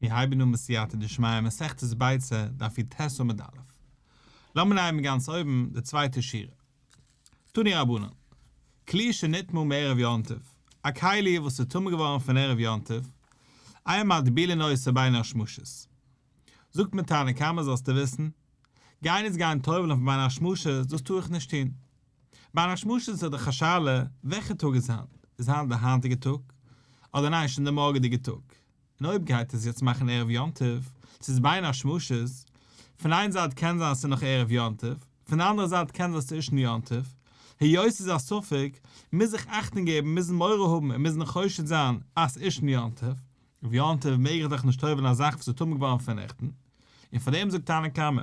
מיר הייבן אן מיט סייעתא דשמיא מסכת ביצה דף יט ט עמוד א'. לאמיר לייענען גאנץ אויבן די צווייטע שורה. תני רבנן. כלי שנטמא מערב יום טוב, א כלי וואס איז טמא געווארן פון ערב יום טוב, איה מטביל אין עושה בין השמשות. זאגט מיר תנא קמא זאלסטו וויסן, גיין איז גיין טובל'ן פון בין השמשות דאס טו איך נישט טון. ביי א שמש איז דאך א שאלה וועלכע טאג איז היינט, איז היינט די היינטיגע טאג אדער ניין שוין די מארגעדיגע טאג, און אויב גייט עס יעצט מאכן ערב יום טוב, צו איז בין א שמש, פון איין זייט קען זיין אז ס'איז נאך ערב יום טוב, פון די אנדערע זייט קען זיין ס'איז שוין יום טוב, היות ס'איז א ספק, מוז זיך אכטונג געבן, מוזן מורא האבן און מוזן חושד זיין אז ס'איז שוין יום טוב, אויף יום טוב מעג איך דאך נישט טובל'ן א זאך וואס איז טמא געווארן פון נעכטן, און פאר דעם זאגט תנא קמא,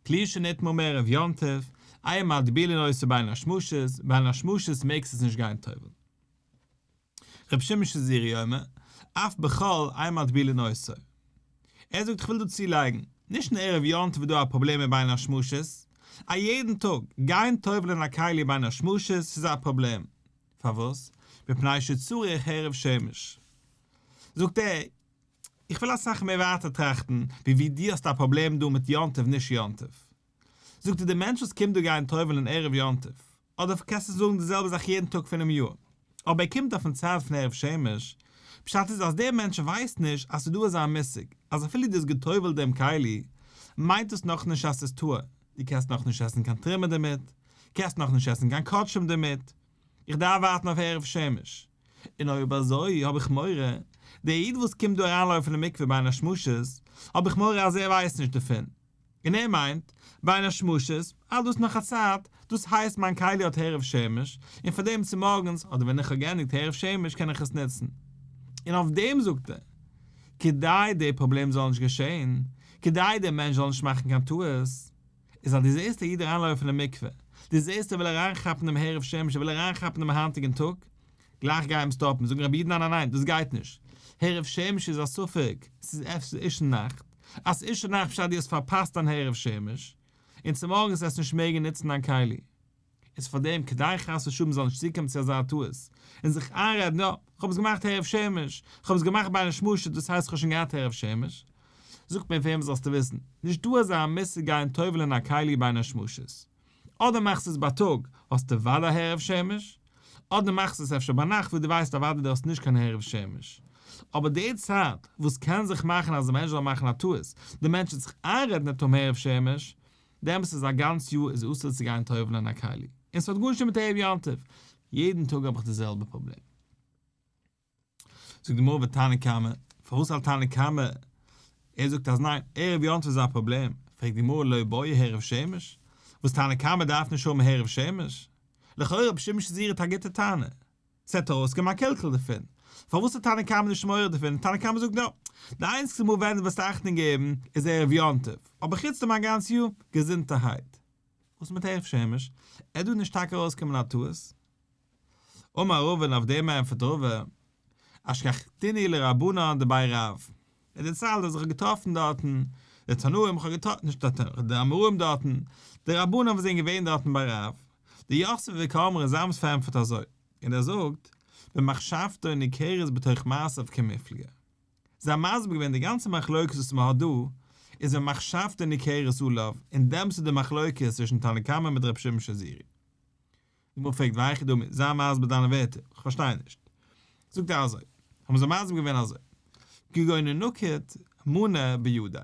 כלי שנית מום ערב יום טוב, איה מטבילי נושא בין השמשות, בין השמשות מעגסט עס נישט גיין טובל. ר' שמעון שזירי אומר, אף בחול איה מטבילי נושא. ער זאגט כ'וויל דא צולייגן, נישט נאר ערב יום טוב איז דא א פראבלעם מיט בין השמשות, א יעדן טאג, גיין טובל'ען א כלי בין השמשות ס'איז א פראבלעם. פארוואס? מפני שצריך הערב שמש. זאגט ער, איך וויל אסאך מער ווייטער טראכטן ווי ווי דו האסט א פראבלעם דא מיט יום טוב נישט יום טוב. זאג דו די מענטש וואס קומט דא גיין טובל'ן ערב יום טוב, אדער קענסטו זאגן די זעלבע זאך יעדן טאג פונעם יאר, אבער ער קומט אויפן צייט פון ערב שמש, פשט איז אז דער מענטש ווייסט נישט אז ס'דא אזא מושג אז אפילו דו האסט גע'טובל'ט דעם כלי מיינט דאס נאכנישט אז ס'איז טהור, דו קענסט נאכנישט עסן קיין טרימער דערמיט, קענסט נאכנישט עסן קיין קאטשעם דערמיט, איך דארף ווארטן אויף ערב שמש, און אויב אזוי האב איך מורא, דער איד וואס קומט דא אריינלויפן אין מקווה ביין א שמשות, האב איך מורא אז ער ווייסט נישט דערפון, און ער מיינט, ביין א שמשות, אז דאס נאך א צייט, דאס הייסט מיין כלי האט ערב שמש, און פאר דעם צומארגנס, אדער ווען איך האב געענדיגט ערב שמש קען איך עס נוצן. און אויף דעם זאגט ער, כדי דער פראבלעם זאל נישט געשען, כדי דער מענטש זאל נישט מאכן קיין טעות, איז אז דו זעסט א איד אריינלויפן אין מקווה, דו זעסט ער וויל אריינכאפן דעם הערב שמש, ער וויל אריינכאפן דעם היינטיגן טאג, גלייך גיי אים סטאפן, זאגן רבי'ן ניין ניין ניין דאס גייט נישט, הערב שמש איז א ספק, ס'איז עפעס אישון נאכט, אז אישון נאכט פשט דו האסט פארפאסט דיין הערב שמש, און צומארגנס וועסטו נישט מעגן נוצן דיין כלי. איז פאר דעם כדי חס ושלום מ'זאל נישט צוקומען צו אזא טעות און זיך איינרעדן יא, כ'האב עס געמאכט ערב שמש, כ'האב עס געמאכט ביי א נשמושת דאס הייסט כ'האב שוין געהאט ערב שמש, זאגט מען פאר אים זאלסטו וויסן, נישט דא אזא מושג גיין טובל'ען א כלי ביי נשמושת, אדער מאכסטו עס בייטאג האסטו אוודאי ערב שמש, אדער מאכסטו עס אפשר ביינאכט וואס דו ווייסט אוודאי דו האסט נישט קיין ערב שמש, אבער די צייט וואס קען זיך מאכן אז א מענטש זאל מאכן א טעות, די מענטש וועט זיך איינרעדן ער טאר האבן ערב שמש, דעם וואס איז א גאנץ יאר איז אסור צו גיין טובל'ן אין א כלי, און ס'האט גארנישט מיט ערב יום טוב, יעדן טאג האב איך די זעלבע פראבלעם. זאגט די גמרא ותנא קמא, פארוואס האלט תנא קמא, ער זאגט אז ניין, ערב יום טוב איז א פראבלעם, פרעגט די גמרא לא באי הערב שמש, וואס תנא קמא דארף נישט האבן הערב שמש? לכאורה רבי שמעון שזיר האט א גוטע טענה. זעט אויס קען מען א קעלקעל דערפון. פארוואס איז תנא קמא נישט מעורר דערפון? תנא קמא זאגט נאר, די איינציגסטע מאל ווען דו וועסט אכטונג געבן איז ערב יום טוב, אבער חוץ דעם א גאנץ יאר געזונטערהייט. וואס מיט ערב שמש? ער דא נישט טאקע ארויסקומען א טעות? אמר רב און אויף דעם ענפערט רבא, אשכחתיני לרבנן דבאי רב. ער דערציילט אז איך האב געטראפן דארטן די תנאים, איך האב געטראפן, נישט די תנאים, די אמוראים דארטן, די רבנים וואס זענען געווען דארטן ביי רב, די יאסעלע ווי קאמארע זאמס פארענטפערט אזוי, און ער זאגט, במחשבתו ניכרת בתוך מעשיו כמפלגה. זיי האבן מסביר געווען די גאנצע מחלוקת וואס מען האט דא, איז במחשבתו ניכרת עליו, און דעמס איז די מחלוקת צווישן תנא קמא מיט ר' שמעון שזירי. די גמרא פרעגט והיכי דמי, זיי מסביר דיינע ווערטער, איך פארשטיי נישט. זאגט ער אזוי, האבן זיי מסביר געווען אזוי, כגון נקוט מנה בידי,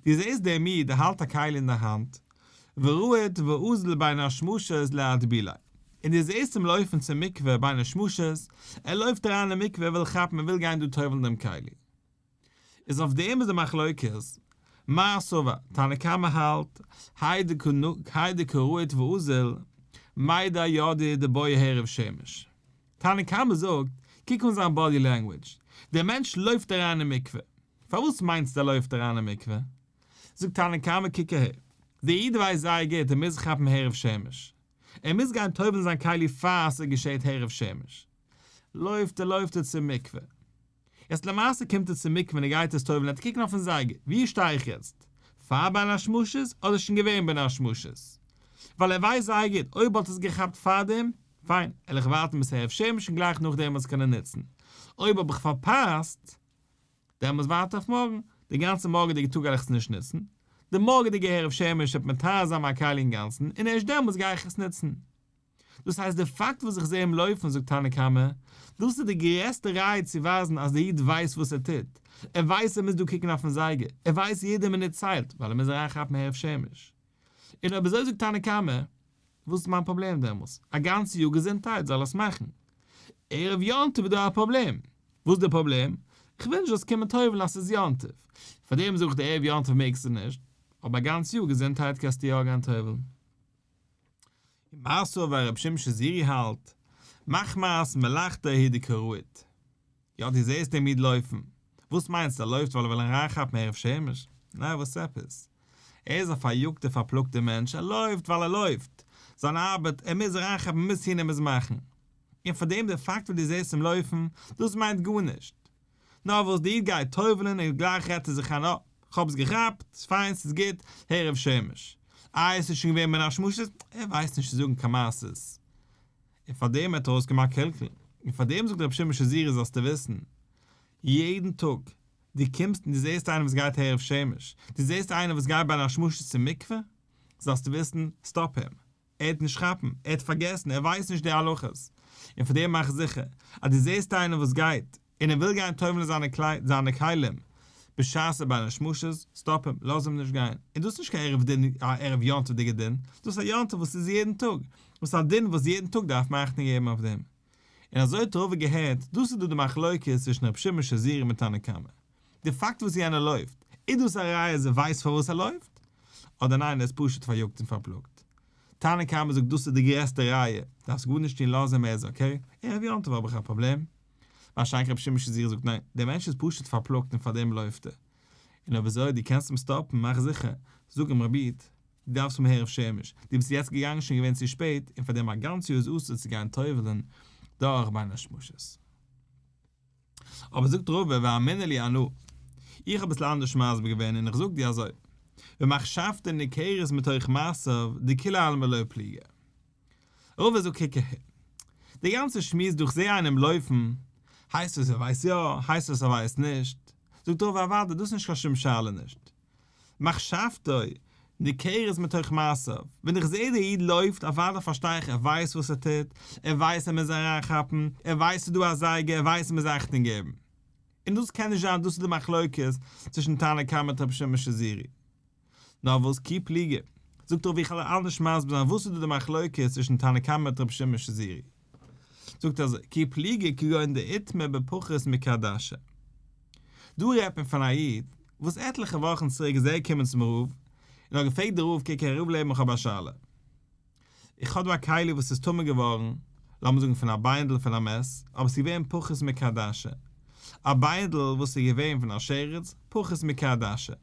דו זעסט דער מי ד האלט א כלי אין די האנט, ורועד ואוזל בין השמשות להטבילה, און דו זעסט אים לויפן צום מקווה בין השמשות, ער לויפט אריין אין מקווה ער וויל כאפן ער וויל גיין דא טובל'ן דעם כלי. איז אויף דעם איז די מחלוקת, מה הסבר, תנא קמא האלט, האי דקא נק, האי דקא רועית ואוזל, מאי דאי ידי דבוי הערב שמש. תנא קמא זאגט, קוק אן זיין באדי לענגוויטש, דער מענטש לויפט אריין אין מקווה. פארוואס מיינסטו ער לויפט אריין אין מקווה? זאגט תנא קמא קוק אהער, דער איד ווייסט זייער גוט ער מוז כאפן הערב שמש. ער מוז גיין טובל'ן זיין כלי פאר ס'געשעהט הערב שמש. לויפט ער לויפט ער צום מקווה. יעצט למעשה קומט ער צום מקווה און ער גייט עס טובל'ן עטס קוקן אויפן זייגער, ווי שטיי איך יעצט? פאר בין השמשות אדער שוין געווען בין השמשות? ווייל ער ווייסט זייער גוט אויב האט עס געכאפט פארדעם, פיין, על איך ווארטן ביז הערב שמש און גלייך נאכדעם עס קענען נוצן, אויב האב איך פארפאסט, דעמאלטס ווארט איך אויף מארגן, די גאנצע מארגעדיגע טאג גייך עס נישט נוצן, די מארגעדיגע הערב שמש וועט מטהר זיין מיין כלי אינגאנצן און ערשט דעמאלטס גיי איך עס נוצן. דאס הייסט די פאקט וואס איך זע אים לויפן זאגט תנא קמא, דאס איז די גרעסטע ראיה צו ווייזן אז דער איד ווייסט וואס ער טוט, ער ווייסט ער מוז דא קוקן אויפן זייגער, ער ווייסט יעדע מינוט ציילט ווייל ער מוז אריינכאפן הערב שמש. און אויב אזוי זאגט תנא קמא, וואס איז מיין פראבלעם דעמאלס? א גאנצע יאר געזונטהייט זאל עס מאכן, ערב יום טוב איז דא א פראבלעם, וואס איז די פראבלעם? איך וויל נישט זאלסט קומען טובל'ן אז ס'איז יום טוב, פארדעם זאג איך דיר ערב יום טוב מעגסטו נישט, אבער א גאנצע יאר געזונטהייט קענסטו יא גיין טובל'ן. און מאסאווע ווי הרב שמשון זירי האלט, מחמת מלאכתו היא דקרית. יא דו זעסט דעם איד לויפן, וואס מיינסטו ער לויפט ווייל ער וויל אריינכאפן ערב שמש? נעה וואס עפעס? ער איז א פאריאגטער פארפלאגטער מענטש, ער לויפט ווייל ער לויפט, זיין ארבעט, ער מוז אריינכאפן, ער מוז טון, ער מוז מאכן. און פארדעם די פאקט וואס דו זעסט אים לויפן, דאס מיינט גארנישט. נאר וואס די איד גייט טובל'ן און גלייך רעדט ער זיך איין אה, כ'האב עס געכאפט, ס'איז פיין, ס'איז גוט, הערב שמש. איי עס איז שוין געווען בין השמשות, ער ווייסט נישט צו זאגן קיין מעשות. און פארדעם האט ער אויסגעמאכט קלקול. און פארדעם זאגט רבי שמעון שזירא זאלסטו וויסן, יעדן טאג דו קומסט און דו זעסט איינעם וואס גייט הערב שמש, דו זעסט איינעם וואס גייט בין השמשות צום מקווה, זאלסטו וויסן, סטאפ הים. ער וועט נישט כאפן, ער האט פארגעסן, ער ווייסט נישט די הלכות, און פאר דעם מאך זיכער אז דו זעסט איינער וואס גייט און ער וויל גיין טובל'ן זיינע קלייד זיינע כלים בשעת ס'איז ביי די שמשות, סטאפ אים, לאז אים נישט גיין, און דאס איז נישט קיין ערב דין א ערב יום טוב'דיגע דין, דאס איז א יום טוב וואס איז יעדן טאג, וואס א דין וואס יעדן טאג דארף מען אכטונג געבן אויף דעם, און אזוי האט רובא געהערט, דאס איז דא די מחלוקת צווישן ר' שמעון שזירא מיט תנא קמא. די פאקט וואס יענער לויפט, איז דאס א ראיה אז ער ווייסט פארוואס ער לויפט? אדער ניין ער איז פשוט פאריאגט און פארפלאגט? תנא קמא זאגט דאס איז די גרעסטע ראיה, דארפסט גארנישט טון לאז אים ער איז אקעי, אה ר' יום טוב האב איך א פראבלעם? ווארשיינליך רבי שמעון שזירא זאגט ניין, דער מענטש איז פשוט פארפלאגט און פארדעם לויפט ער. און אויב אזוי דו קענסט אים סטאפן מאך זיכער, זאג אים רבי איד, דו דארפסט פון מהר א שמש, דו ביסט יעצט געגאנגען שוין געווען צו שפעט, און פארדעם א גאנץ יאר איז אסור צו גיין טובל'ן דורך ביינער שמשות. אבער זאגט רבה ואמינא לי אנא, איך האב אביסל אנדערש מסביר געווען און איך זאג דיר אזוי, ומחשבתו ניכרת מתוך מעשיו דכולי עלמא לא פליגא. רבה זאגט קוק אהער, דער גאנצער שמועס דא איך זעה איינעם לויפן, הייסט עס ער ווייסט יא, הייסט עס ער ווייסט נישט, זאגט רבה אוודאי דאס איז נישט קיין שום שאלה נישט, מחשבתו ניכרת מתוך מעשיו, ווען איך זעה דער איד לויפט, אוודאי פארשטיי איך ער ווייסט וואס ער טוט, ער ווייסט ער מוז אריינכאפן, ער ווייסט ס'איז דא א זייגער, ער ווייסט ער מוז אכטונג געבן. און דאס קען נישט זיין דאס איז די מחלוקת צווישן תנא קמא מיט רבי שמעון שזירי. נאר וואס כי פליגי, זאגט ער ווי איך העל אלעס נישט מסביר זיין וואס איז דא די מחלוקת צווישן תנא קמא מיט רבי שמעון שזירי. זאגט אזוי כי פליגי כגון דאיתמר בפחות מקדשה דא רעדט מען פון א איד וואס עטליכע וואכן צוריק איז ער געקומען צום רב און האט געפרעגט די רב קוק הרב לעבן איך האב א שאלה איך האב דא א כלי וואס איז טמא געווארן לאמיר זאגן פון א ביינדל פון א מעס אבער עס איז געווען פחות מקדשה א ביינדל וואס איז געווען פון א שרץ פחות מקדשה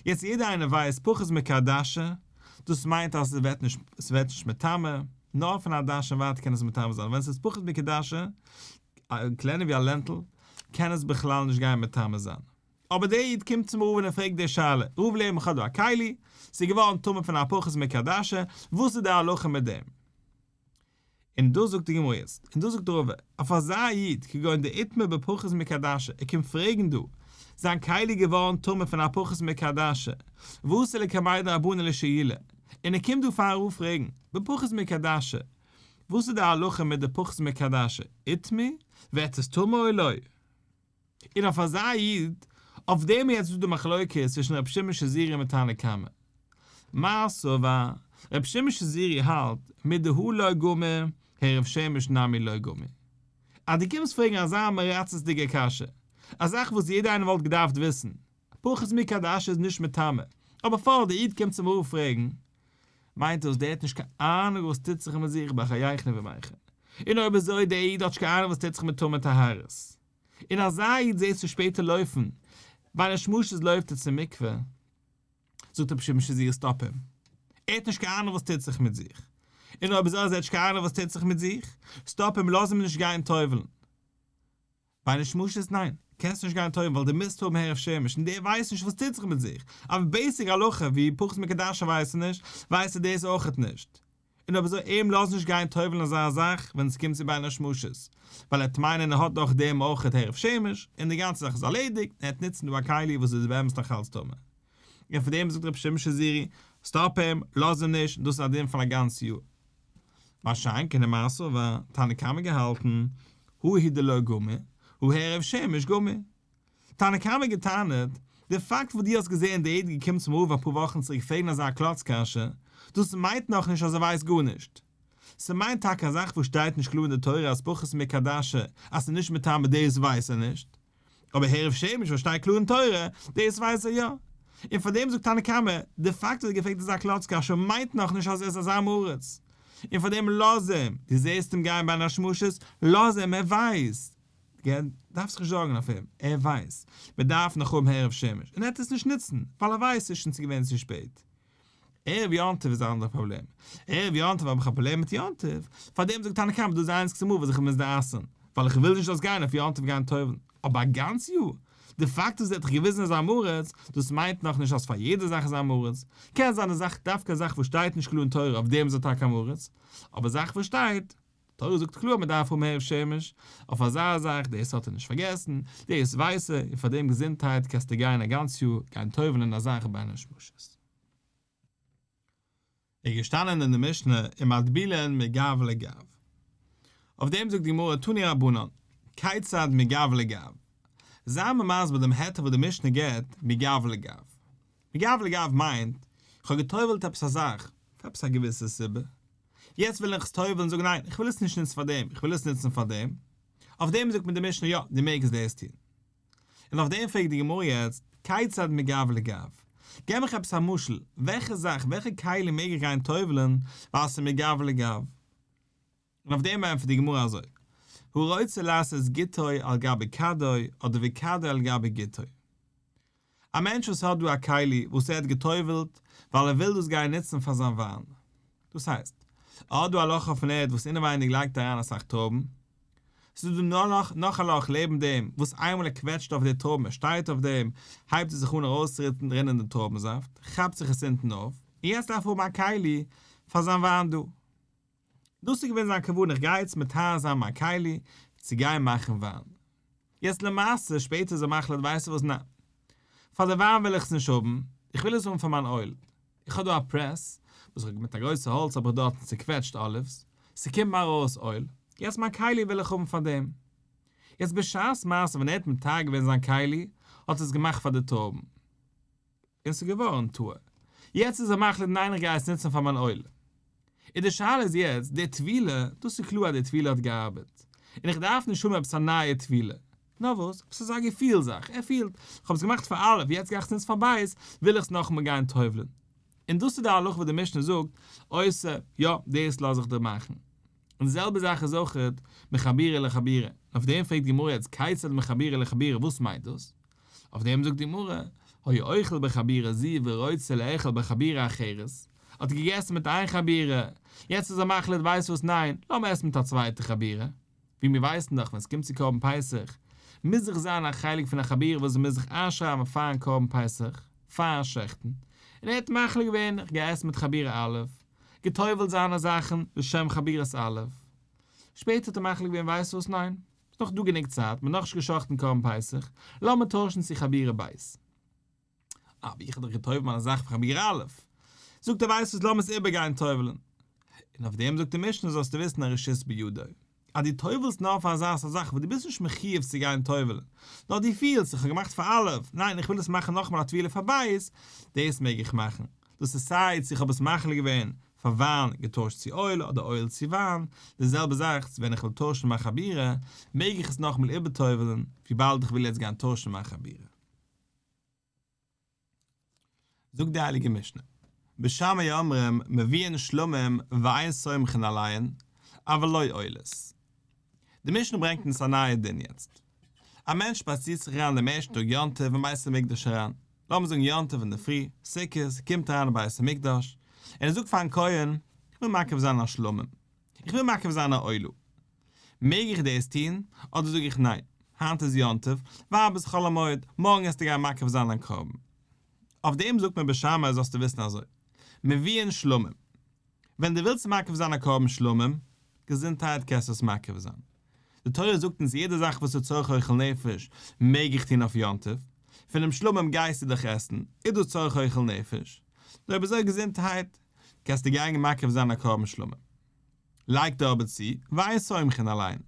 יעצט יעדער איינער ווייסט פחות מ כ א דשא, דאס מיינט אז ס'וועט נישט ס'וועט נישט מטמא, נאר פון א דש און ווייטער קען עס מטמא זיין, ווען ס'איז פחות מ כ א דשא, קלענער ווי א לענטל, קען עס בכלל נישט גיין מטמא זיין. אבער דער איד קומט צום רבין און פרעגט די שאלה, רוב לערן איך האב דא א כלי, ס'איז געווארן טמא פון א פחות מ כ א דשא, וואס איז די הלכה מיט דעם? און דאס זאגט די גמרא יעצט, און דאס זאגט רא ו, אויף אזא איד כגון דער איתמר בפחות מקדשה, ער קומט פרעגן דא, זיין כלי איז געווארן טמא פון א פחות מקדשה, ועשה לה כמאי דרבנן לשאילה, און ער קומט דא פאר א רב פרעגן, בפחות מקדשה, וואס איז די הלכה מיט די פחות מקדשה, איתמר, ווערט עס טמא אוי לא? און אויף אזא איד, אויף דעם יעצט איז דא די מחלוקת צווישן רבי שמעון שזירי מיט תנא קמא. מעשה ו, רבי שמעון שזירי האלט, מיט די הוא לא גמור, הער רב שמש נמי לא גמור. אז דו קומסט פרעגן אזא מרצות'דיגע קשיא, א זאך וואס יעדע איינער וואלט געדארפט וויסן, פחות מי כדאשתו איז נישט מטעמי, אבער פארט די איד קומט צום רב פרעגן, מיינט דאס דער האט נישט קיין אהנונג וואס טוט זיך מיט זיך בחייכון ובמייכון? און אויב אזוי דער איד האט נישט קיין אהנונג וואס טוט זיך מיט טומאה טהרות? און אזא איד זעהסטו ווי שפעט ער לויפן ביי די שמשות לויפט ער צום מקווה זאגט ער פשוט משזיר סטאפ אים ער האט נישט קיין אהנונג וואס טוט זיך מיט זיך און אויב אזוי אז ער האט נישט קיין אהנונג וואס טוט זיך מיט זיך סטאפ אים לאז אים נישט גיין טובל'ן ביי די שמשות ניין, קענסט נישט גיין טויבן ווייל די מוזט האבן הערב שמש און די ווייסט נישט וואס טוט זיך מיט זיך, אבער בעיסיק הלכה ווי פחות מקדשה ווייסט נישט, ווייסט ער דאס אויכעט נישט, און אויב אזוי אים לאזט נישט גיין טויבן אזא זאך ווען עס קומט צו ביין א שמשות, ווייל ער וועט מיינען ער האט דאך דעם אויכעט הערב שמש און די גאנצע זאך איז ארלעדיגט און ער וועט נוצן דא א כלי וואס איז באמת נאך אלץ טמא. און פון דעם זאגט רבי שמעון שזירי, סטאפ אים, לאז אים נישט, דאס איז א דין פון א גאנץ יאר. מה שאין כן אין מעשה ו, תנא קמא געהאלטן, הוא הי' דלא גמור, הוא הערב שמש גמור. תנא קמא געטענה'ט, די פאקט וואס דו האסט געזען די איד געקומען צום רב אפאר וואכן צוריק פרעגן אזא קלאץ קשיא, דאס מיינט נאך נישט אז ער ווייסט גארנישט. ס'מיינט טאקע א זאך וואס שטייט נישט קלאר אין די תורה אז פחות מקדשה אז ס'נישט מטעם בדעות ווייסט ער נישט. אבער הערב שמש וואס שטייט קלאר אין תורה, דאס ווייס ער יא. און פאר דעם זאגט תנא קמא, די פאקט אז ער געפרעגט איז א קלאצקע א ש מיינט נאך נישט אז ער איז א זעם הארץ. און פאר דעם לאז אים, דו זעסט אים גיין ביי אן א שמשות, לאז אים, ער ווייסט. דארפסט זיך נישט זארגן אויף אים, ער ווייסט. מען דארף נאך האבן הערב שמש. און ער וועט עס נישט נוצן, ווייל ער ווייסט ס'איז שוין צו געווען צו שפעט. ערב יום טוב איז א אנדערע פראבלעם. ערב יום טוב האב איך א פראבלעם מיט יום טוב, פארדעם זאגט תנא קמא דאס איז די איינציגסטע מאל וואס איך האב מוז דערייסען, ווייל איך וויל נישט דאס גיין אויף יום טוב גיין טובל'ן, אבער א גאנץ יאר? די פאקט אז ער האט דיך געוויזען אז אמארעץ, דאס מיינט נאך נישט אז פאר יעדע זאך איז אמארעץ, קען זיין אז זאך דווקא זאך וואס שטייט נישט קלאר אין תורה אויף דעם איז ער טאקע אמארעץ, אבער זאך וואס שטייט, תורה זאגט קלאר אז מען דארף האבן הערב שמש אויף אזא זאך, דאס האט ער נישט פארגעסן, דאס ווייסט ער, און פאר דעם געזונטהייט קענסטו גיין א גאנץ יאר גיין טובל'ן אין אזעלכע ביינער שמשות. איז געשטאנען אין די משנה ומטבילין מגב לגב. אויף דעם זאגט די גמרא תני רבנן, כיצד מגב לגב? זיי מיר מסביר דעם היתר וואס די משנה גיבט מגב לגב. מגב לגב מיינט, איך האב געטובל'ט עפעס א זאך, פאר עפעס א געוויסע סיבה, יעצט ווילן איך עס טובל'ן און זאגן ניין איך וויל עס נישט נוצן פאר דעם איך וויל עס נוצן פאר דעם, אויף דעם זאגט מיר די משנה יא דו מעגסט דאס טון, און אויף דעם פרעגט די גמרא יעצט כיצד מגב לגב, געב מיך עפעס א משל וועלכע זאך וועלכע כלי מעג איך גיין טובל'ן ווייל ס'איז מגב לגב, און אויף דעם ענטפערט די גמרא אזוי הרוצה לעשות גיטוי על גבי כדוי אדער ווי כדוי על גבי גיטוי, א מענטש וואס האט דא א כלי וואס ער האט גע'טובל'ט ווייל ער וויל דאס גיין נוצן פאר זיין וויין, דאס הייסט, ער האט דא א לאך אויפן ערד וואס אינעווייניג לייגט אריין אסאך טרויבן, ס'איז דא נאר לאך נאך א לאך לעבן דעם וואס איינמאל ער קוועטשט אויף די טרויבן ער שטייט אויף דעם הייבט עס זיך אן ארויסצורינען דעם טרויבן זאפט, כאפט זיך עס אונטן אויף, און יעצט דארף ער האבן א כלי פאר זיין וויין דא. דאס איז געווען זיין כוונה איך גיי יעצט מטהר זיין מיין כלי צו גיין מאכן וויין. יעצט למעשה שפעטער איז ער מחליט ווייסטו וואס ניין פאר די וויין וויל איך עס נישט האבן איך וויל עס האבן פאר מיין אויל איך האב דא א פרעס וואס איך האב מיט א גרויסע האלץ האב איך דארטן צוקוועטשט אליווס ס'קומט מיר ארויס אויל יעצט מיין כלי וויל איך האבן פאר דעם יעצט בשעת מעשה ווען ער האט מטהר געווען זיין כלי האט ער עס געמאכט פאר די טויבן. און ס'איז געווארן תוה. יעצט איז ער מחליט ניין איך גיי עס נוצן פאר מיין עולה. און די שאלה איז יעצט, די טבילה, דאס איז קלאר אז די טבילה האט געארבעט. און איך דארף נישט האבן עפעס א נייע טבילה. נאר וואס? עפעס אזא געפיל זאך. ער פילט, כ'האב עס געמאכט פאר א', יעצט גיי איך עס נוצן פאר ב', וויל איך עס נאכאמאל גיין טובל'ן. און דאס איז די הלכה וואס די משנה זאגט, אויסער, יא, דאס לאז איך דיר מאכן. און די זעלבע זאך איז אויך מחבירה לחבירה. אויף דעם פרעגט די גמרא יעצט, כיצד מחבירה לחבירה, וואס מיינט דאס? אויף דעם זאגט די גמרא, היה אוכל בחבירה זו ורוצה לאכול בחבירה אחרת, האט געגעסן מיט איין חבירה, יעצט איז ער מחליט ווייסט וואס ניין, לאמיר עסן מיט א צווייטע חבירה, ווי מיר ווייסן דאך ווען ס'קומט צו קרבן פסח, מוז זיך זיין א חלק פון א חבירה וואס מ'מוז זיך איינשרייבן פארן קרבן פסח, פארן שחט'ן, און ער האט מחליט געווען איך גיי עסן מיט חבירה א', גע'טובל'ט זיינע זאכן לשם חבירת א', שפעטער האט ער מחליט געווען ווייסט וואס ניין. ס'איז נאך דא גענוג צייט, מ'האט נאכנישט גע'שחט'ן קרבן פסח, לאמיר טוישן צו חבירה ב'. אבער איך האב דאך גע'טובל'ט מיינע זאכן פאר חבירה א'. זאגט ער ווייסט וואס לאמיר עס איבערגיין טובל'ן. און אויף דעם זאגט די משנה זאלסטו וויסן א רשות בידו. אז דו טובל'סט נאר פאר אזא סארט זאך וואס דו ביסט נישט מחיוב צו גיין טובל'ן, נאר דו פילסט, איך האב געמאכט פאר א', ניין איך וויל עס מאכן נאכאמאל א טבילה פאר ב', דאס מעג איך מאכן. דאס איז סיי צו איך האב עס מחליט געווען פאר וויין געטוישט צו אויל אדער אויל צו וויין, די זעלבע זאך ווען איך וויל טוישן מיין חבירה מעג איך עס נאכאמאל איבערטובל'ן וויבאלד איך וויל יעצט גיין טוישן מיין חבירה. זאגט די הייליגע משנה, בשמיא אומרים מביאין שלמים ואין סומכין עליהן, אבל לא עולות. די משנה ברענגט אונז א נייע דין יעצט. א מענטש שפאצירט זיך אריין דעם ערשטן טאג יום טוב אין בית המקדש אריין, לאמיר זאגן יום טוב אינדערפרי, סוכות, קומט אריין אין בית המקדש, און ער זאגט פארן כהן, איך וויל מקריב זיין א שלמים, איך וויל מקריב זיין א עולה. מעג איך דאס טון, אדער זאג איך ניין, היינט איז יום טוב, ווייב איז חול המועד, מארגן העסטו גיין מקריב זיין דיין קרבן. אויף דעם זאגט מען בשמאי זאלסטו וויסן אזוי, מביאין שלמים. ווען דו ווילסט מקריב זיין א קרבן שלמים, געזונטהייט, קענסטו עס מקריב זיין. די תורה זאגט אונז יעדע זאך וואס איז צורך אוכל נפש מעג איך טון אויף יום טוב, פונעם שלמים גייסטו דאך עסן, איז דאס צורך אוכל נפש, נאר אויב איז אויך געזונטהייט, קענסטו גיין מקריב זיין א קרבן שלמים. לייג דא אבער צו, וויי סומכין אליין,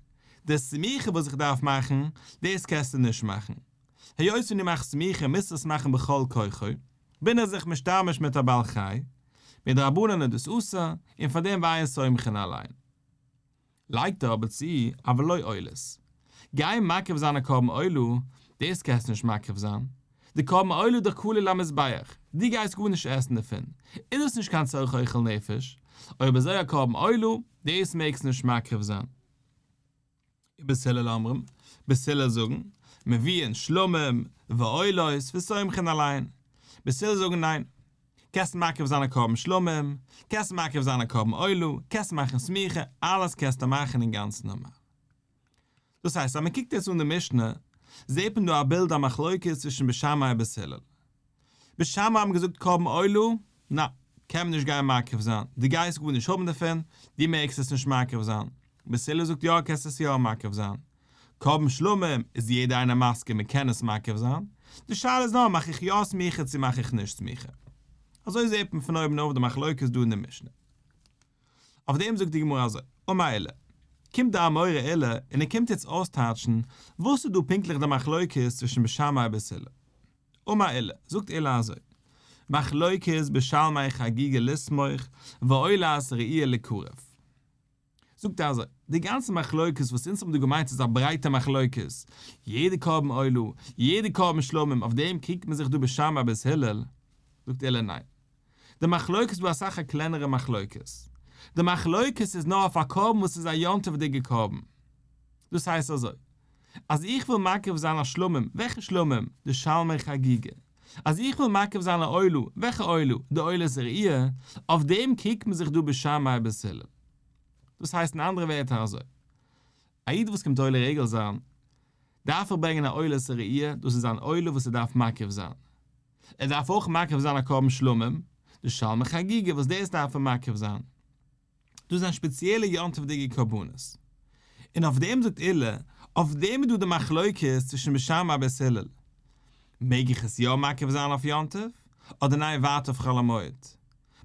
די סמיכה וואס איך דארף מאכן, דאס קענסטו נישט מאכן. היות ווען דו מאכסט סמיכה מוזטו עס מאכן בכל כוחו. בין איך זיך משתמש מיט א בעל חי, מדרבנן איז דאס אסור, און פאר דעם ווייען סומכין אליין. לייגט ער אבער צו, אבל לא עולת. גיין מקריב זיין א קרבן עולה, דאס קענסטו נישט מקריב זיין. די קרבן עולה איז דאך כלול למזבח, דו גייסט גארנישט עסן דערפון, איז דאס נישט קיין צורך אוכל נפש, אויב אזוי א קרבן עולה, דאס מעגסטו נישט מקריב זיין. ובית הלל אומרים, בית הלל זאגן, מביאין שלמים ועולות וסומכין אליין. בית הלל זאגן ניין. קענסט מקריב זיין א קרבן שלמים, קענסט מקריב זיין א קרבן עולה, קענסט מאכן סמיכה, אלעס קענסטו מאכן אינגאנצן נארמאל. דאס הייסט אז מען קוקט יעצט אן די משנה, זעט מען דא א בילד א מחלוקת צווישן בית שמאי ובית הלל. בשמים האבן געזאגט קרבן עולה, נע, קען מען נישט גיין מקריב זיין, דו גייסט גארנישט האבן דערפון, דו מעגסט עס נישט מקריב זיין. בערסילער זאגט יא קענסט עס יא מקריב זיין. קרבן שלמים איז יעדער איינער מסכים מען קען עס מקריב זיין, די שאלה איז נאר מאך איך יא סמיכה צו מאך איך נישט סמיכה. אזוי זעט מען פון אויבן אויף די מחלוקת דא אין די משנה. אויף דעם זאגט די גמרא אזוי, וממילא קומט די אמורא עילה און ער קומט יעצט אויסטייטשן וואס איז דא פונקטליך די מחלוקת צווישן בשמאי און בערסילער. אמר אלה, זאגט אלה אזוי, מחלוקת בשלמי חגיגה לסמוך ועולת ראיה לקרב. זאגט ער אזוי, די גאנצע מחלוקת וואס אונז האבן דא געמיינט איז א ברייטע מחלוקת, יעדע קרבן עולה, יעדע קרבן שלמים, אויף דעם קריגט מען זיך דא בשם אבית הלל, זאגט אלה ניין, די מחלוקת איז דא אסאך א קלענערע מחלוקת, די מחלוקת איז נאר אויף א קרבן וואס איז א יום טוב'דיגע קרבן, דאס הייסט אזוי, אז איך וויל מקריב זיין א שלמים, וועלכע שלמים? די שלמי חגיגה, אז איך וויל מקריב זיין א עולה, וועלכע עולה? די עולה זרעי', אויף דעם קריגט מען זיך דא בשמאי ובשלום, דאס הייסט אין אנדערע ווערטער אזוי, א איד וואס קומט עולה רגל זיין, דארף ער ברענגען א עולה ס'ראי', דאס איז אן עולה וואס ער דארף מקריב זיין. ער דארף אויך מקריב זיין א קרבן שלמים, די שלמי חגיגה וואס דאס דארף ער מקריב זיין. דאס זענען שפעציעלע יום טוב'דיגע קרבנות. און אויף דעם זאגט אילע, אויף דעם איז דא די מחלוקת צווישן משהמ א בית הלל, מעג איך עס יא מקריב זיין אויף יום טוב, אדער ניין ווארט אויף חול המועד.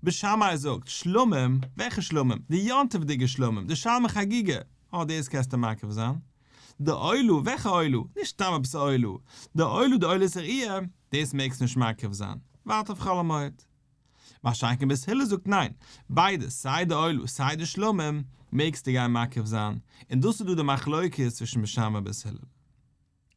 בית שמאי זאגט, שלמים, וועלכע שלמים? די יום טוב'דיגע שלמים, די שלמי חגיגה, אה דאס קענסטו מקריב זיין. די עולא, וועלכע עולא? נישט סתם עפעס א עולא. די עולא די עולא סעריע, דאס מעגסטו נישט מקריב זיין. ווארט אויף חול המועד. מה שאין כן בית הלל זאגט ניין, ביידע, סיי די עולא סיי די שלמים, מעגסטו גיין מקריב זיין, און דאס איז דא די מחלוקת צווישן בשם און בית הלל.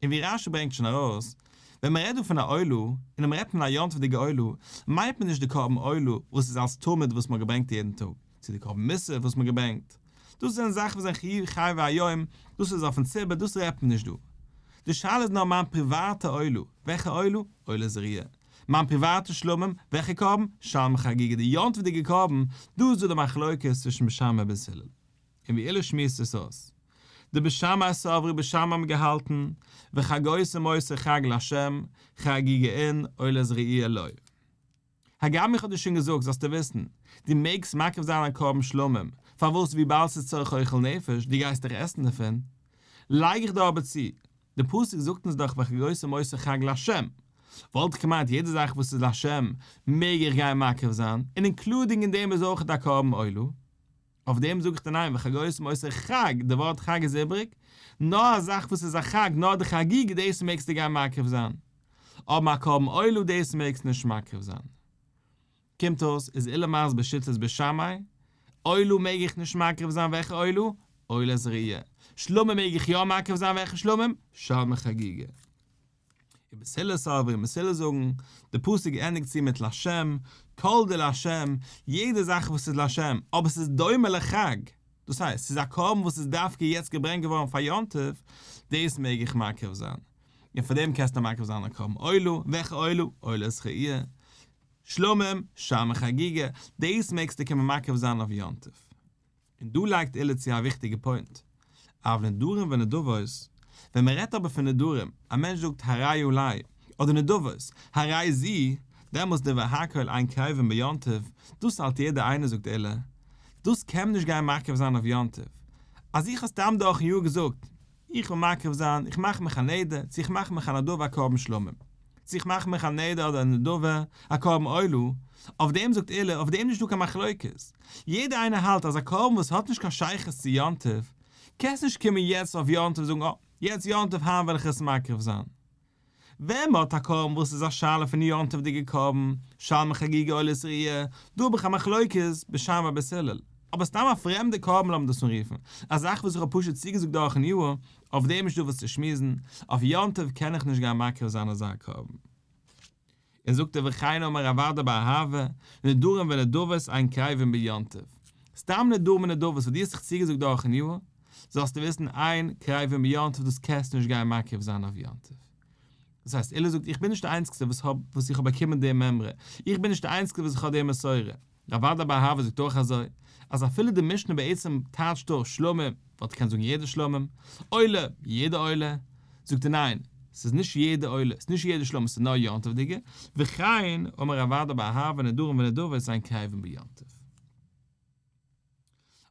און ווי רשי ברענגט שוין ארויס, ווען מען רעדט דא פון א עולא, און אויב רעדט מען א יום טוב'דיגע עולא, מיינט מען נישט די קרבן עולא וואס איז אלס תמיד וואס מען האט געברענגט יעדן טאג, צו די קרבן מוסף וואס מען געברענגט, דאס זענען זאכן וואס זענען חיוב חיי והיום, דאס איז אויפן ציבור, דאס רעדט מען נישט דא. די שאלה איז נאר מיין פריוואטע עולה, וועלכע עולה? עולה זריעה. מיין פריוואטע שלמים, וועלכע קרבן? שלמי חגיגה, די יום טוב'דיגע קרבן, דא איז דא די מחלוקת צווישן בית שמאי און בית הלל. און ווי אילוז שמועסט עס אויס. די בית שמאי סברי, בית שמאי האבן געהאלטן, וחגאות ומוסר חג לה', חגיגה אין, עולה זריעה לא. הגם איך האב דיר שוין געזאגט זאלסטו וויסן, דו מעגסט מקריב זיין א קרבן שלמים, פארוואס וויבאלד ס'איז צורך אוכל נפש, דו גייסט דאך עסן דערפון. לייג איך דיר אבער צו, די פסוק זאגט אונז דאך וועלכע גרויסע מוסר חג לה', וואלט איך געמיינט יעדע זאך וואס איז לה' מעג איך גיין מקריב זיין, און אינקלודינג אין דעם איז אויך א קרבן עולה. אויף דעם זאג איך דיר ניין, וחגאות מוסר חג, די ווארט חג איז איבריג, נאר א זאך וואס איז א חג, נאר די חגיגה דאס מעגסטו גיין מקריב זיין, אבער א קרבן עולה דאס מעגסט נישט מקריב זיין. קומט אויס איז אילן מארס בשיטת בית שמאי, עולה מעג איך נישט מקריב זיין, וועלכע עולה? עולה זריעה. שלמים מעג איך יא מקריב זיין, וועלכע שלמים? שלמי חגיגה. און מסילת סוברים מסילת זאגן די פסוק ענדיגט צו מיט לשם, כל דער לשם, יעדע זאך וואס איז לשם, אבער ס'איז דומה לחג, דאס הייסט ס'איז א קרבן וואס איז דווקא יעצט געברענגט געווארן פאר יום טוב, דאס מעג איך מקריב זיין, און פאר דעם קענסטו מקריב זיין א קרבן עולה, וועלכע עולה? עולה זכיה, שלמים, שמן חגיגה, דאס מעגסטו קומען מקריב זיין אויף יום טוב, און דא לייגט אילע צו א וויכטיגע פוינט, אב נדרים ונדבות, ווען מען רעדט אבער פון נדרים, א מענטש זאגט הרי י לי, אדער נדבות, הרי ז, דעמאלס די והכל עין קרובין ביום טוב, דאס האלט יעדער איינער זאגט אילע, דאס קען מען נישט גיין מקרב זיין אויף יום טוב, אז איך האב סתם דורכן יאר געזאגט, איך וויל מקריב זיין, איך מאך מיך א נדר, צו איך מאך מיך א נדבה א קרבן שלמים, צו איך מאך מיך א נדר אדער א נדבה א קרבן עולה, אויף דעם זאגט אילן, אויף דעם איז נישטא קיין מחלוקת, יעדער איינער האלט אז א קרבן וואס האט נישט קיין שייכות צו יום טוב, קענסט נישט קומען יעצט אויף יום טוב זאגן אה, יעצט יום טוב היינט וועל איך עס מקריב זיין, ווען מ'האט א קרבן וואס איז א שאלה פון יום טוב'דיגע קרבן, שלמי חגיגה או לסריע, דא האב איך א מחלוקת בשם אבית הלל. אבער סתם א פרעמדע קרבן לאמיר דאס אנרופן, א זאך וואס איך האב פשוט צוגעזאגט דורכ'ן יאר, אויף דעם איז נישט דא וואס צו שמועסן, אויף יום טוב קען איך נישט גיין מקריב זיין אזא קרבן. און זאגט ער וכן אמר רב אדא באהבה, נדרים ונדבות אין קרבים ביום טוב. סתם נדרים און נדבות וואס דו האסט זיך צוגעזאגט דורכ'ן יאר, זאלסטו וויסן אין קרבים ביום טוב דאס קענסטו נישט גיין מקריב זיין אויף יום טוב. דאס הייסט אילו זאגט איך בין נישט די איינציגסטע וואס איך האב באקומען די מימרא, איך בין נישט די איינציגסטע וואס איך האב די מסורה, רב אדא באהבה זאגט אויך אזוי, אז אפילו די משנה בעצם טייטשט דארט שלמה, וואלט געקענט זאגן יעדע שלמים, עולה, יעדע עולה, זאגט ער ניין, ס'איז נישט יעדע עולה, ס'איז נישט יעדע שלמים, ס'איז נאר יום טוב'דיגע, וכן אמר רב אדא באהבה נדרים ונדבות זיין קרבים ביום טוב.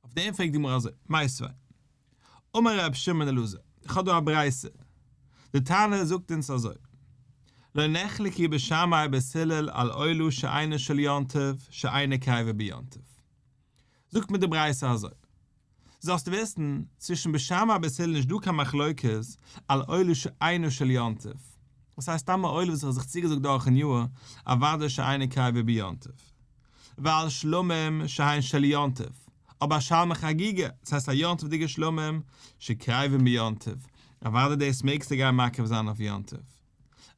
אויף דעם פרעגט די גמרא אזוי, מאי סבי'? אמר רב שמעון אלעזר, איך האב דא א ברייתא, די תנא זאגט אונז אזוי, לא נחלקי בשמאי בית הלל על אילו שאינו של יום טוב שאינו קייווע ביום טוב. זאגט מיר די ברייתא אזוי, זאלסט וויסן, צווישן בית שמאי און בית הלל איז נישט דא קיין מחלוקת על אילו שאינו של יום טוב, דאס הייסט סתם א אילו וואס איך האב זיך צוגעזאגט דורכ'ן יאר, אוודאי שאינו קייווע ביום טוב. ועל שלמים שהיין של יום טוב, אבער שלמי חגיגה, דאס הייסט א יום טוב'דיגע שלמים שקרבים ביום טוב, אוודאי דאס מעגסטו גיין מקריב זיין אויף יום טוב.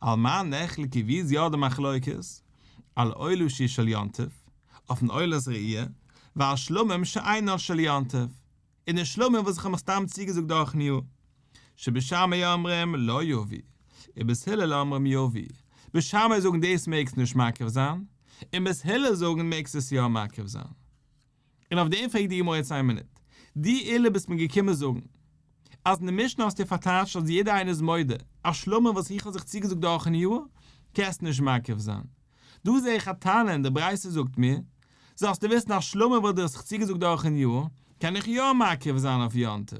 על מה נחלקי ווי איז יא די מחלוקת? על עולשי של יום טוב, אויפן עולת ראיה, ועל שלמים שאינן של יום טוב. און די שלומים וואס איך האב מיך סתם צוגעזאגט דורכ'ן יאר. שבשמיא אומרים לא יביא, און בית הלל אומרים יביא. בית שמיא זאגן דאס מעגסט נישט מקריב זיין, און בית הלל זאגן מעגסט עס יא מקריב זיין. און אויף דעם פרעגט די גמרא יעצט איין מינוט. דו אילע ביסט מיר געקומען זאגן, אז אין די משנה האסטו פארטייטשט אז יעדער איינער איז מודה, אז שלומים וואס איך האב זיך צוגעזאגט דורכ'ן יאר, קענסטו נישט מקריב זיין. דא זע איך א טענה אין די ברייתא זאגט מיר, זאלסטו וויסן אז שלמה וואלט דיר עס זיך צוגעזאגט דורכן יאר, קען איך יא מקריב זיין אויף יום טוב.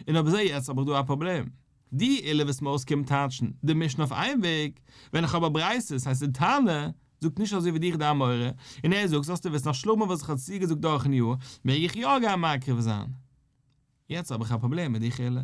און אויב אזוי יעצט האב איך דא א פראבלעם. די אלע וואס מוז קומען טייטשן די משנה אויף איין וועג, ווען איך האב א ברייתא, הייסט די תנא זאגט נישט אזוי ווי דיך דיין מורה, און ער זאגט זאלסטו וויסן אז שלמה וואלט זיך עס צוגעזאגט דורכן יאר, מעג איך יא גיין מקריב זיין. יעצט האב איך א פראבלעם מיט די חילוק.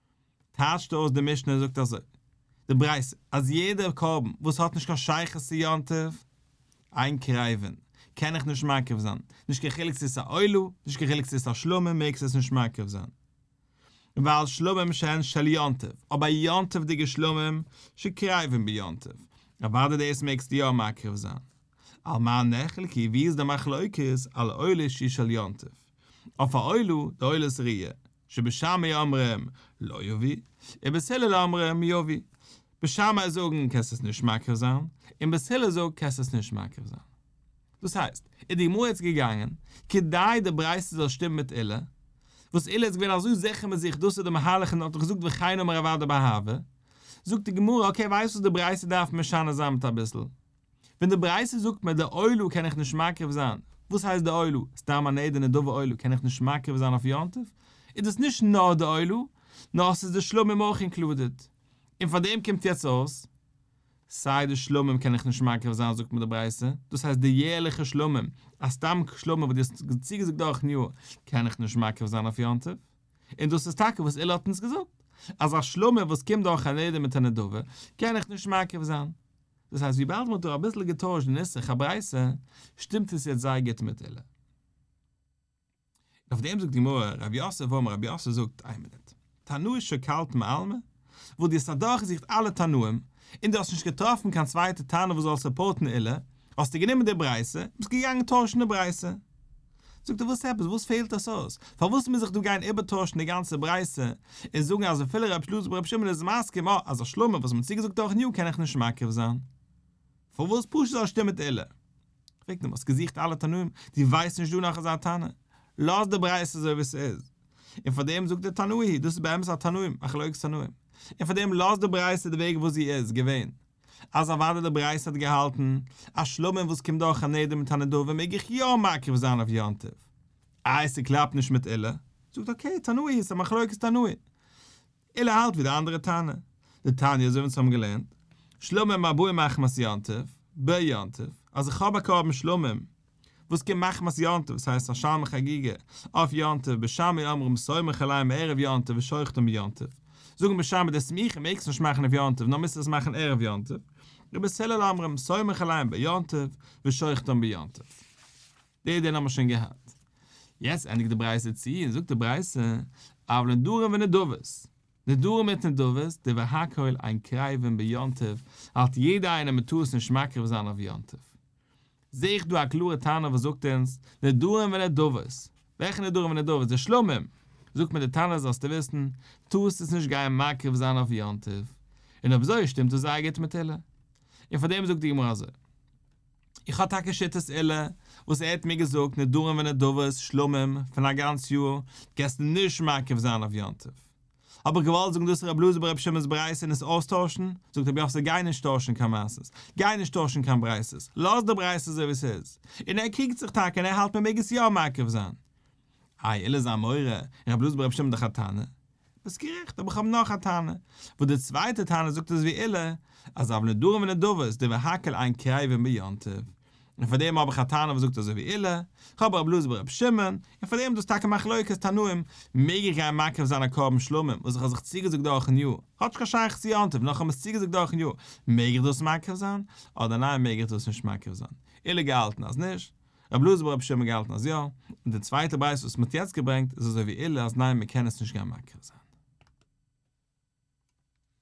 טייטשט אויס די משנה זאגט אזוי די ברייתא אז יעדע קרבן וואס האט נישט קיין שייכות צו יום טוב איין קרבן קען איך נישט מקריב זיין נישט קיין חילוק צו עס איז א עולה נישט קיין חילוק צו עס איז א שלמים מעגסט עס נישט מקריב זיין ווייל שלמים שהן של יום טוב אבער יום טוב'דיגע שלמים שקרבים ביום טוב אוואדע דאס מעגסטו יא מקריב זיין על מה נחלקי ווי איז די מחלוקת על עולה שהיא של יום טוב אויף א עולה די עולה איז ריאה שבשמיא אומרים לא יביא, ובית הלל אומרים יביא. בשמיא זאגן קענסט עס נישט מקריב זיין, און בית הלל זאגט קענסט עס נישט מקריב זיין. דאס הייסט, איז די גמרא יעצט געגאנגען, כדי די ברייתא זאל שטימען מיט אילת, וואס אילת איז געווען אזוי זיכער מיט זיך, דאס איז די מהלך און האט דאך געזאגט וכן אמר אביי דבאהבה, זאגט די גמרא, אקעי ווייסט וואס די ברייתא דארף משנה זיין מיט אביסל. ווען די ברייתא זאגט מיר די עולא קען איך נישט מקריב זיין, וואס הייסט די עולא? סתם אן עדה נדבה עולא קען איך נישט מקריב זיין אויף יום טוב? איז דאס נישט נאר די עולא, נאר עס איז די שלמים אויך אינקלודעד, און פאר דעם קומט יעצט אויס, סיי די שלמים קען איך נישט מקריב זיין זאגט מיר די ברייתא, דאס הייסט די יערליכע שלמים, א סתם שלמים וואס דו האסט צוגעזאגט דורכ'ן יאר קען איך נישט מקריב זיין אויף יום טוב, און דאס איז טאקע וואס אילער האט אונז געזאגט, אז א שלמים וואס קומט דורך אן עדה מיט א נדבה קען איך נישט מקריב זיין. דאס הייסט וויבאלד מ'האט דא אביסל געטוישט די נוסח הברייתא שטימט עס יעצט זייער גוט מיט אילן. און אויף דעם זאגט די גמרא, ר' יוסף אמר ר' יוסף זאגט, איין מינוט, תנאי שקלת מעלמא? וואס דו האסט אדורכגעזוכט אלע תנאים, און דו האסט נישט געטראפן קיין צווייטע טענה וואס זאל סופארטן אילן, האסטו גענומען די ברייתא, און ביסט געגאנגען טוישן די ברייתא. זאגט ער וואס עפעס? וואס פעלט עס אויס? פארוואס מוז איך דא גיין איבערטוישן די גאנצע ברייתא, און זאגן אז אפילו רב שלז בר רב שמעון איז מסכים אה, אז השלמה וואס מ'האט צוגעזאגט דורכן יאר קען איך נישט מקרב זיין? פארוואס פשוט זאל שטימען תהילה? פרעגט אים האסט געזוכט אלע תנאים? דו ווייסט נישט דא נאך אזא טענה? לאז די ברייתא אזוי ווי ס'איז. און פאר דעם זאגט ער תנאי היא, דאס איז באמת א תנאים, א חלוקת תנאים. און פאר דעם לאז די ברייתא די וועג וואס זי איז געווען. אז אוודאי די ברייתא האט געהאלטן אז שלמים וואס קומט דורך א נדר מיט א נדבה מעג איך יא מקריב זיין אויף יום טוב. איי ס'קלאפט נישט מיט אילע? זאגט אקעי תנאי איז א מחלוקת תנאים. אילע האלט ווי די אנדערע טענה. די תניא אזוי ווי אונז האבן געלערנט, שלמים ארבעים מחמת יום טוב, ב יום טוב, אז איך האב א קרבן שלמים וואס קומט מחמת יום טוב, וואס הייסט א שם חגיגה אויף יום טוב, בשמי אומרים סומך עליהם ערב יום טוב ושוחטים ביום טוב, זאגן בשמי די סמיכה מעגסט נישט מאכן אויף יום טוב נאר מוזט עס מאכן ערב יום טוב, רבי הלל אומרים סומך עליהם ביום טוב ושוחטים ביום טוב. די דין האמער שוין געהאט. יעצט ענדיגט די ברייתא צו און זאגט די ברייתא אויף נדרים ונדבות, נדרים מיט נדבות די והכל אין קרבים ביום טוב האלט יעדער איינער מען טאר עס נישט מקריב זיין אויף יום טוב, זע איך דא א קלארע טענה וואס זאגט אונז, נדרים ונדבות. וועלכע נדרים ונדבות? די שלמים! זאגט מיר די תנא אז זאלסטו וויסן, טארסט עס נישט גייען מקריב זיין אויף יום טוב. און אויב אזוי שטימט עס זייער גוט מיט אילן. און פאר דעם זאגט די גמרא אזוי. איך האב טאקע שיטת אילן, וואס ער האט מיר געזאגט, נדרים ונדבות, שלמים, פון א גאנץ יאר, גייסטו נישט מקריב זיין אויף יום טוב. האב איך געוואלט זאגן דאס רב לאזער ביי רבי שמעון'ס ברייתא און עס אויסטוישן, זאגט רבי יוסל גיי נישט טוישן קיין מעשה'ס, גיי נישט טוישן קיין ברייתא'ס, לאז די ברייתא אזוי ווי ס'איז, און ער קריגט זיך טאקע און ער האלט מען מעג עס יא מעכב זיין. איי אלעזר מורה, רב לאזער ביי רבי שמעון דאך א טענה? ביסט גערעכט, אבער איך האב נאך א טענה, וואס די צווייטע טענה זאגט אזויווי אלה, אז אב נדרים ונדבות די והקל עין קריבין ביום טוב, און פאר דעם האב איך א טענה וואס זאגט אזוי ווי אילע, איך האב רב לוז ברב שמעון, און פאר דעם דאס טאקע מחלוקת תנאים, מעג איך גיין מקריב זיין א קרבן שלמים וואס איך האב זיך צוגעזאגט דורכן יאר, האט נישט קיין שייכות צו יום טוב, נאר איך האב מיר עס צוגעזאגט דורכן יאר, מעג איך דאס מקריב זיין, אדער ניין מעג איך דאס נישט מקריב זיין, אילע געהאלטן אז נישט, רב לוז ברב שמעון געהאלטן אז יא, און די צווייטע ברייתא וואס מען האט יעצט געברענגט איז אזוי ווי אילע אז ניין מען קען עס נישט גיין מקריב זיין.